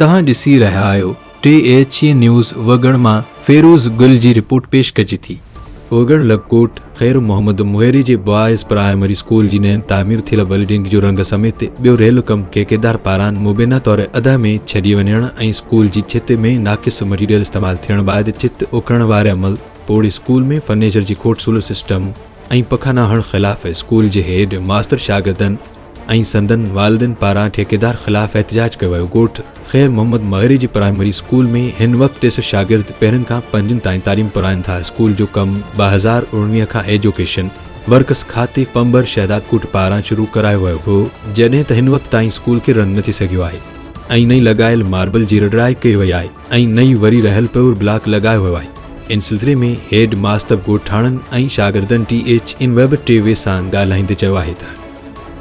توهان ڏسي رهيا آهيو ٽي ايڇ اي نيوز وڳڻ مان فيروز گل جي رپورٽ پيش ڪجي ٿي. وڳڻ لڪڪوٽ خير محمد مهيري جي بوائز پرائمري اسڪول جي نئين تعمير ٿيل بلڊنگ جو رنگ سميت ٻيو ريل ڪم ٺيڪيدار پاران مبينا طور ادا ۾ ڇڏي وڃڻ ۽ اسڪول جي ڇت ۾ ناقص مٽيريل استعمال ٿيڻ بعد ڇت اڪرڻ واري عمل پوڙهي اسڪول ۾ فرنيچر جي کوٽ سولر سسٽم ۽ پکا نه هڻ خلاف اسڪول جي هيڊ ماستر شاگردن ۽ سندن والدين پاران ٺيڪيدار خلاف احتجاج ڪيو ويو ڳوٺ خير محمد مغري جي پرائمري اسڪول ۾ هن وقت ٽي سئو شاگرد پهرين کان پنجين تائين تعليم پرائين ٿا اسڪول جو ڪم ٻه هزار اوڻويهه کان ايجوڪيشن ورڪس کاتي پنبر شهداد ڪوٽ پاران شروع ڪرايو ويو هو جڏهن ته هن وقت تائين اسڪول کي رنگ نه ٿي سگهيو آهي ۽ نئين لڳايل ماربل جي رڙائي ڪئي وئي آهي. ۽ نئين وري رهيل پيور بلاڪ لڳايو ويو آهي ان سلسلي ۾ هيڊ ماستر ڳوٺاڻن ۽ شاگردن T H M web T V سان ڳالهائيندي چيو آهي ته.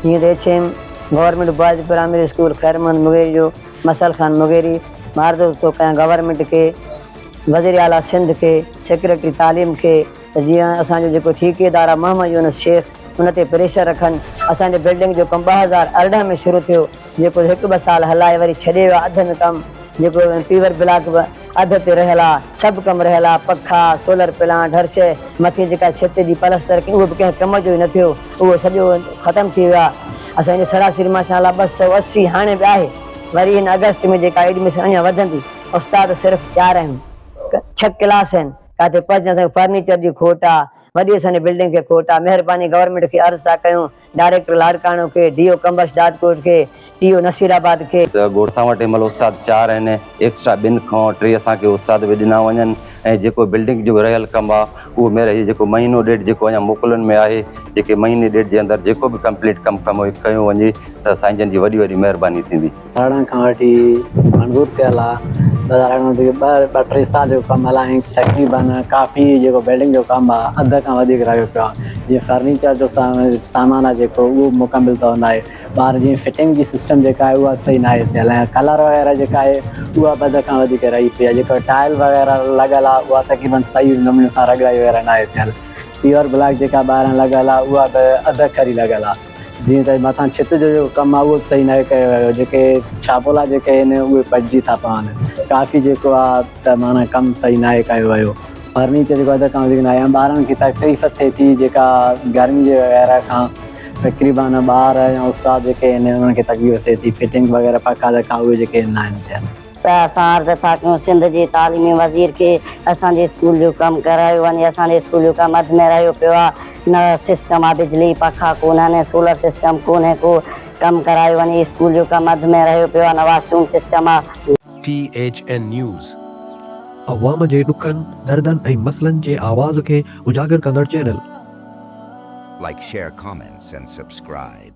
جيئن ته H M government boys primary school Khair Muhammad Mughiri جو مسعل خان مغيري مھاردوست ٿو ڪيان گورنمينٽ کي وزير اعليٰ سنڌ کي سيڪريٽري تعليم کي ته جيئن اسان جو جيڪو ٺيڪيدار آهي محمد يونس شيخ ان تي پريشر رکن اسان جي بلڊنگ جو ڪم ٻه هزار ارڙهن ۾ شروع ٿيو جيڪو هڪ ٻه سال هلائي وري ڇڏي ويو آ اڌ ۾ ڪم جيڪو پيور بلاڪ به اڌ تي رهيل آ سڀ ڪم رهيل آ پکا سولر پلانٽ هر شئي مٿي جيڪا ڇت جي پلستر ڪئي اهو به ڪنهن ڪم جو ئي نه ٿيو اهو سڄو ختم ٿي ويو آ اسان هن سڙا سير ماشا الله ٻه سؤ اسي هاڻي به آهي وري هن اگسٽ ۾ جيڪا ايڊميشن اڃان وڌندي استاد صرف چار اهم ڇهه ڪلاس آهن ڪاتي پهچن اسان کي فرنيچر جي کوٽ آ وڏي اسان جي بلڊنگ کي کوٽ آ مهرباني گورنمينٽ کي عرض ٿا ڪيون ڊائريڪٽر لاڙڪاڻو کي، ڊي او قمبر شھدادڪوٽ کي، ٽي او نصيرآباد کي. ته گوڙ سان وٽ ھنمھل استاد چار آھن ايڪسٽرا ٻن کان ٽي اسان کي استاد به ڏنا وڃن ۽ جيڪو بلڊنگ جو رھيل ڪم آ اھو مير ھي جيڪو مھينو ڏيڍ جيڪو اڃا موڪلن ۾ آھي جيڪي مھيني ڏيڍ جي اندر جيڪو به ڪمپليٽ ڪم ڪمو ڪيو وڃي ته سائين جن جي وڏي وڏي مھرباني ٿيندي. ڌرڻي کان وٺي منظور ٿيل آ ٻه ٽي سال جو ڪم هلائين تقريبن ڪافي جيڪو بلڊنگ جو ڪم آ اڌ کان وڌيڪ رهيو پيو آ جي فرنيچر جو سامان آ جيڪو اهو مڪمل طور ناهي ٻاهر جي فٽنگ جي سسٽم جيڪا آهي اها صحيح ناهي ٿيل ۽ ڪلر وغيره جيڪا آهي اها به اڌ کان وڌيڪ رهي پئي آ جيڪا ٽائل وغيره لڳل آ اها تقريبن صحيح نموني سان رڳڙائي وغيره ناهي ٿيل پيور بلاڪ جيڪا ٻاهران لڳل آ اها به اڌ کري لڳل آ جيئن ته مٿان ڇت جو جيڪو ڪم آهي اهو به صحيح ناهي ڪيو ويو جيڪي ڇاپولا جيڪي آهن اهي پٽجي ٿا پون ڪافي جيڪو آهي ته معنيٰ ڪم صحيح ناهي ڪيو ويو فرنيچر جيڪو اڌ کان وڌيڪ ناهي ۽ ٻارن کي تڪليف ٿئي ٿي جيڪا گرمي جي وغيره کان تقريبن ٻار يا استاد جيڪي آهن انهن کي تڪليف ٿئي ٿي فٽنگ وغيره پکا دکا اهي جيڪي آهن ناهن ٿيا ته اسان عرض ٿا ڪيون سنڌ جي تعليمي وزير کي اسان جي اسڪول جو ڪم ڪرايو وڃي اسان جي اسڪول جو ڪم اڌ ۾ رهيو پيو آ نه سسٽم آ بجلي پکا ڪونهن ۽ سولر سسٽم ڪونهي ڪو ڪم ڪرايو وڃي اسڪول جو ڪم اڌ ۾ رهيو پيو آ نه واش روم سسٽم آ. ٽي ايڇ اين نيوز، عوام جي ڏکن، دردن ۽ مسئلن جي آواز کي اجاگر ڪندڙ channel. Like share comments and subscribe.